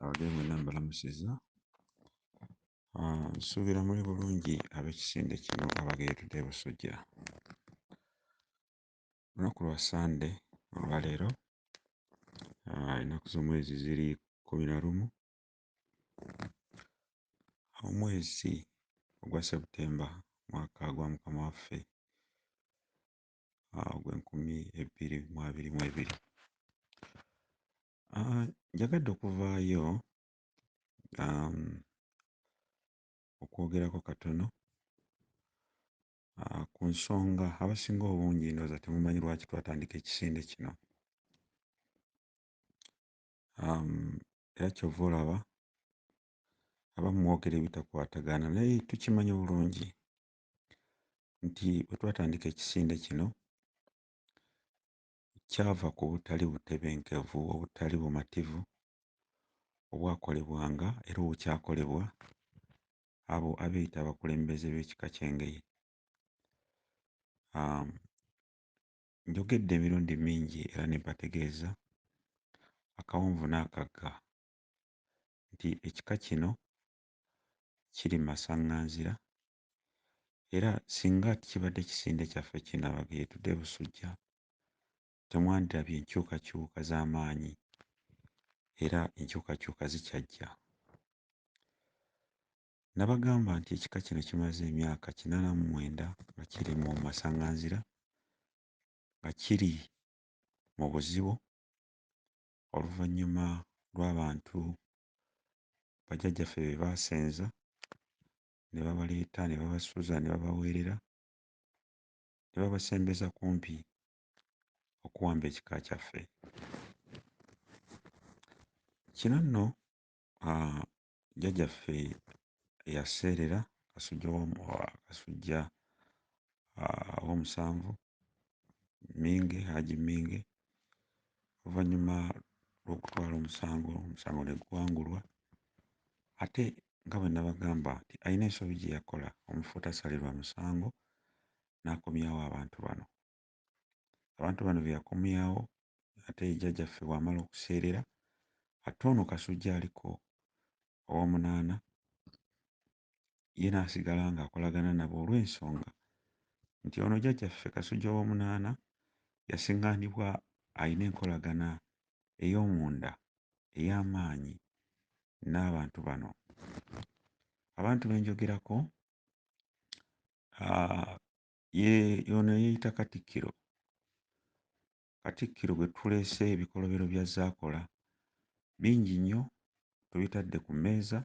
abadde mwenna mbalamusiza ah, nsuubira muli bulungi ab'ekisinde kino abageeredde e busujja lunaku lwa sande olwaleero ah, ennaku z'omwezi ziri kumi na lumu omwezi ogwa septemba mwaka gwa mukama waffe ah, ogw'enkumi ebbiri mu abiri mu ebiri Ah, njagadde okuvaayo um, okwogerako katono ah, ku nsonga abasinga obungi ndowooza temumanyi lwaki twatandika ekisinde kino um, era kyova olaba abamu mwogera ebitakwatagana naye tukimanyi bulungi nti bwe twatandika ekisinde kino kyava ku butali butebenkevu, obutali bumativu obwakolebwanga era obukyakolebwa abo abeeyita abakulembeze b'ekika ky'Engeye. Um, njogedde emirundi mingi era ne mbategeeza akawonvu n'akagga nti ekika kino kiri masaŋŋanzira era singa kibadde kisinde kyaffe kino abageyetude busujja temwandirabye enkyukakyuka z'amaanyi era enkyukakyuka zikyajja nabagamba nti ekika kino kimaze emyaka kinana mu mwenda nga kiri mu masanganzira nga kiri mu buzibu oluvannyuma lw'abantu bajjajjaffe be baasenza ne babaleeta ne babasuza ne babaweerera ne babasembeza kumpi okuwamba ekika kyaffe kino nno ah, jjajaffe yaseerera kasujja kasujja ah, owomusanvu Minge Haji Minge oluvannyuma lw'okutwala omusango omusango ne guwangulwa ate nga bwe nabagamba nti alina ensobi gye yakola omufu tasalirwa musango n'akomyawo abantu bano abantu bano be yakomyawo ate jjajjaffe bw'amala okuseerera ate ono kasujja aliko owomunaana ye n'asigala ng'akolagana nabo olw'ensonga nti ono Jjajjaffe Kasujja Owoomunaana yasing'anibwa alina enkolagana ey'omunda ey'amaanyi n'abantu bano. Abantu be njogerako ye ono eyeeyita Katikkiro Katikkiro bwe tuleese ebikolobero bya Zaakola bingi nnyo tubitadde ku mmeeza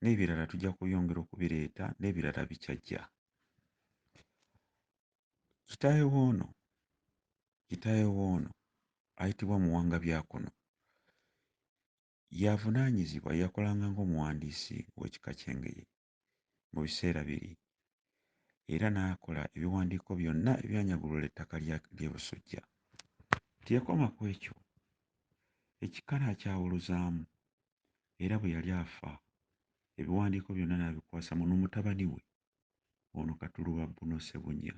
n'ebirala tujja kubyongera okubireeta n'ebirala bikyajja. Kitaawe woono kitaawe woono ayitibwa Muwanga Byakono y'avunaanyizibwa yakolanga ng'omuwandiisi w'ekika ky'Engeye. mu biseera biri era n'akola ebiwandiiko byonna ebyanyagulula ettaka ly'e Busujja. Teyakoma ku ekyo, ekika n'akyawuluzaamu era bwe yali afa ebiwandiiko byonna n'abikwasa muno mutabani we ono Katuluba Bruno Ssebunya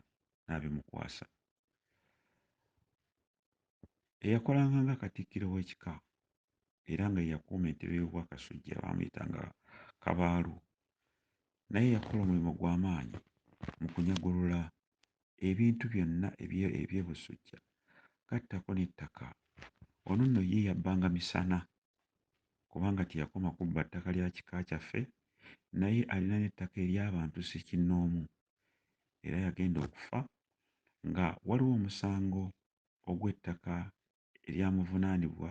n'abimukwasa. eyakolanga nga katikkiro w'ekika era nga yeyakuuma entebe y'obwakasujja baamuyitanga kabaalu naye yakola omulimu gw'amaanyi mu kunyagulula ebintu byonna eby'ebusujja gattako n'ettaka ono nno ye yabbanga misana kubanga teyakoma kubba ttaka lya kika kyaffe naye alina n'ettaka ery'abantu ssekinnoomu era yagenda okufa nga waliwo omusango ogw'ettaka eryamuvunaanibwa